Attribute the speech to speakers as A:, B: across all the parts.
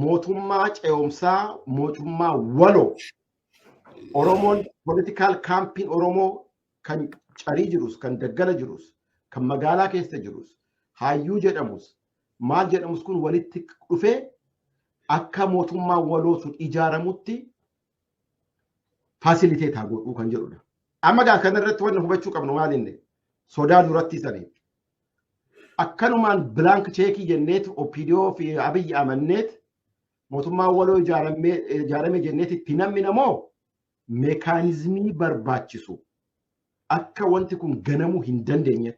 A: mootummaa ce'umsaa mootummaa waloo Oromoon politikaal kaampiin Oromoo kan carii jirus kan daggala jirus kan magaalaa keessa jirus hayyuu jedhamus maal jedhamus kun walitti dhufee akka mootummaa waloo sun ijaaramutti faasiliteet haa godhuu kan jedhudha. Amma gaa kanarratti wanna hubachuu qabnu maalinne sodaa duratti sanii akkanumaan bilaank cheekii jenneet OPDO fi Abiyyi amanneet mootummaa waloo ijaarame jenneet itti namni namoo meekaanizmii barbaachisu akka wanti kun ganamuu hin dandeenye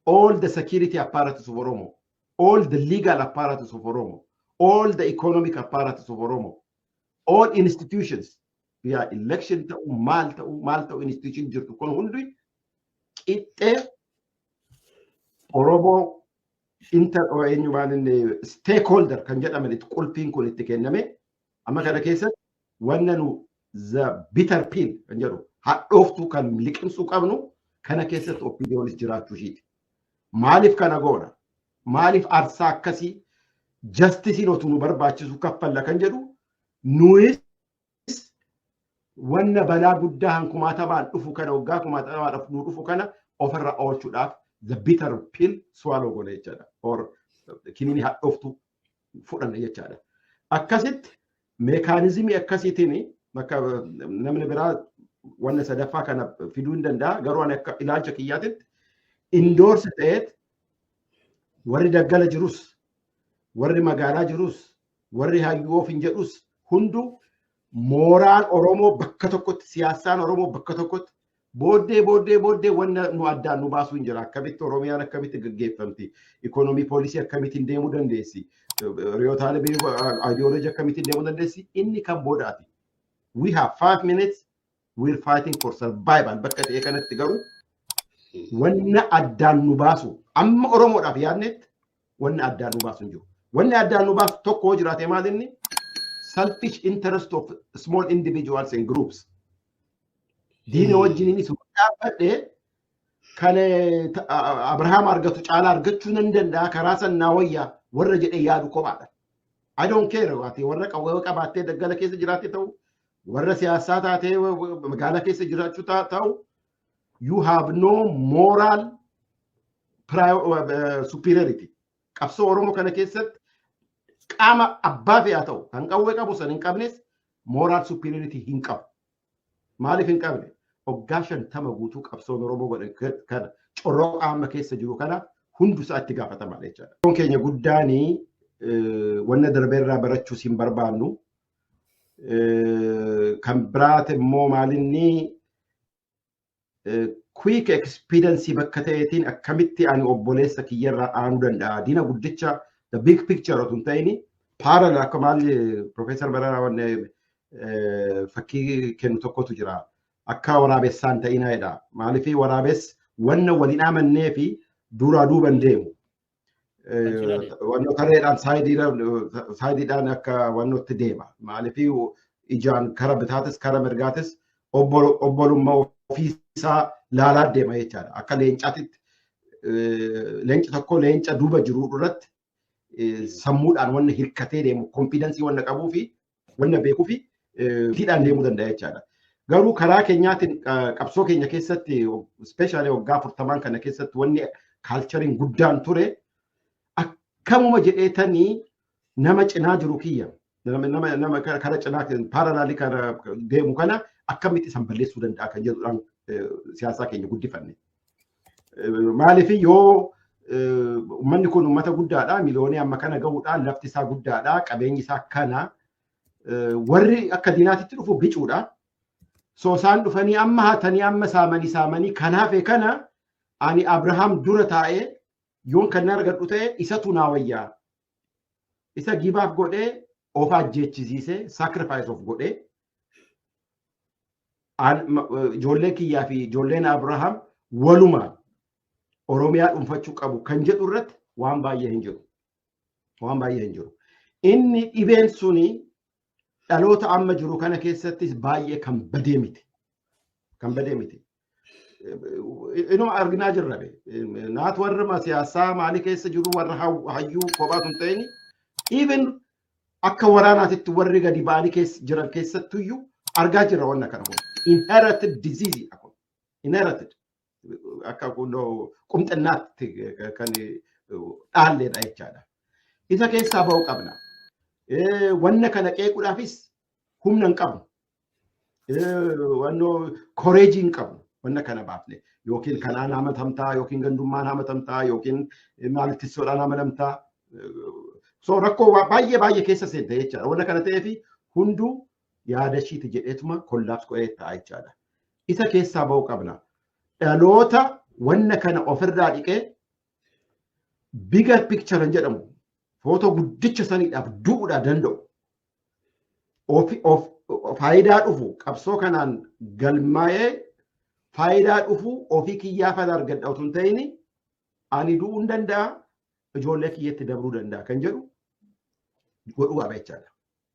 A: all the security apparatus of Oromo all the legal apparatus of Oromo all the economic apparatus of Oromo all institutions yaa election ta'u maal ta'u maal ta'u institution jirtu kun hundi qixxee Oromoo inter eenyu maal inni stakeholder kan jedhaman itti qulfiin kun itti kenname amma kana keessatti wanna nu the bitter pill kan jedhu hadhooftuu kan liqimsuu qabnu kana keessatti opiniyonis jiraachuu ishiiti. Maaliif kana goona? Maaliif arsaa akkasii jastisiin otuu nu barbaachisu kaffalla kan jedhu nuyis wanna balaa guddaa han kumaatamaan dhufu kana waggaa kumaatamaan dhufu nu dhufu kana ofirra oolchuudhaaf the bitter pill swallow goona jechaadha. Or kiniini hadhooftu fudhanna jechaadha. Akkasitti meekaanizimii akkasiitiin bakka namni biraa wanna sadaffaa kana fiduu hin danda'a garuu ani akka ilaalcha kiyyaatitti indoorsi ta'eet warri daggala jirus warri magaalaa jirus Warri hayyuu ofiin jedhus hundu mooraan Oromoo bakka tokkotti siyaasaan Oromoo bakka tokkotti booddee booddee booddee wanna nu addaan nu baasuu hin jira akkamitti Oromiyaan akkamitti gaggeeffamti ikoonomii poolisii akkamittiin deemuu dandeessi riyootaalee biyya ideology akkamittiin deemuu dandeessi inni kan boodaati. We have five minutes We're fighting for survival bakka ta'e kanatti garuu wanna addaan nu baasu amma Oromoodhaaf yaadnetti wanna addaan nu baasu hin jiru. Wanni addaan nu baasu tokko yoo jiraate maal inni selfish interest of small individuals and groups. Diina wajjin inni sun dhaabbadhe kan eh, ta- a- a- Abrahaam argatu caalaa argachuu nan danda'a karaa sannaa wayyaa warra jedhee yaadu kophaadha. I don't care waati warra qawwee qabaattee daggala keessa jiraate ta'u warra siyaasaa taatee magaalaa keessa jiraachuu ta'u you have no moral superiority qabsoo oromoo kana keessatti qaama abbaa fe'aa ta'u kan qawwee qabu san hin qabnes moral superiority hin qabu maaliif hin qabne oggaa shantama guutuu qabsoon oromoo godhe kana corroo qaama keessa jiru kana hundu isaa itti gaafatama jechaadha. Kun keenya guddaanii wanna darbeerraa barachuus hin barbaannu kan biraati immoo maalinni quick expediency bakka ta'eetiin akkamitti ani obboleessa kiyyarraa aanuu danda'a diina guddicha the big picture otoo hin ta'in parallel akka maalli profeesar Bararaa wanne fakkii kennu tokkotu jira akka waraabessaa hin ta'inaa jedha maaliif waraabes wanna waliin amannee fi duraa duuban deemu Wanno tareedhaan saayidiidhaan akka wannootti deema. Maaliif ijaan kara bitaatis kara mirgaatis obbolummaa ofiisaa laalaa deema jechaadha. Akka leencaatitti leenca tokko leenca duuba jiru irratti sammuudhaan wanna hirkatee deemu konfiidensii wanna qabuu fi wanna beekufi tiidhaan deemuu danda'a jechaadha. Garuu karaa keenyaatiin qabsoo keenya keessatti ispeeshaalee waggaa afurtamaan kana keessatti wanni kaalchariin guddaan ture akkamuma jedheetanii nama cinaa jiru kiyya nama kara cinaa paaralaalii kana deemu kana akkamitti isan balleessuu danda'a kan jedhudhaan siyaasaa keenya guddifanne. Maaliif yoo uummanni kun uummata guddaadha miliyoonii amma kana ga'uudhaan lafti isaa guddaadha qabeenyi isaa kana warri akka diinaatitti dhufu bicuudha. So isaan dhufanii amma hatanii amma saamanii saamanii kan hafe kana ani Abrahaam dura taa'ee yoon kan argadhu ta'e isatu naa wayyaa. Isa gibaaf godhee of ajjeechisiisee sacrifice of godhee ijoollee kiyyaa fi ijoolleen Abrahaam walumaan Oromiyaa dhuunfachuu qabu kan jedhu irratti waan baay'ee hin jiru. Waan baay'ee hin jiru. Inni dhibeen suni dhaloota amma jiru kana keessattis baay'ee kan badee miti. Kan badee miti. Inuma arginaa jirra be. Naat warra siyaasaa maalii keessa jiru warra hayyuu kophaa sun ta'in even akka waraanaatitti warri gadi ba'anii keessa jiran keessattuyyuu argaa jirra wanna kana kun. Inherited disease dha kun. Inherited. Akka qumxinnaatti kan dhaalleedha jechaadha. Isa keessaa ba'uu qabna. Wanna kana qeequudhaafis humna hin qabnu. wannoo koreejii hin qabnu wanna kana baafne yookiin kanaan hamatamtaa yookiin gandummaan hamatamtaa yookiin maalittissoodhaan hamatamtaa so rakkoo baay'ee baay'ee keessa seente jechaadha wanna kana ta'eef hunduu yaada ishiiti jedheetuma kollaabs qo'ee ta'a jechaadha isa keessaa ba'uu qabna dhaloota wanna kana ofirraa dhiqee biga picture jedhamu footoo guddicha saniidhaaf du'uudhaa danda'u faayidaa dhufu qabsoo kanaan galmaa'ee faayidaa dhufu ofii kiyyaa fana argadha otoo hin ta'in ani du'uu hin danda'a ijoollee kiyyatti dabruu danda'a kan jedhu godhuu qaba jechaadha.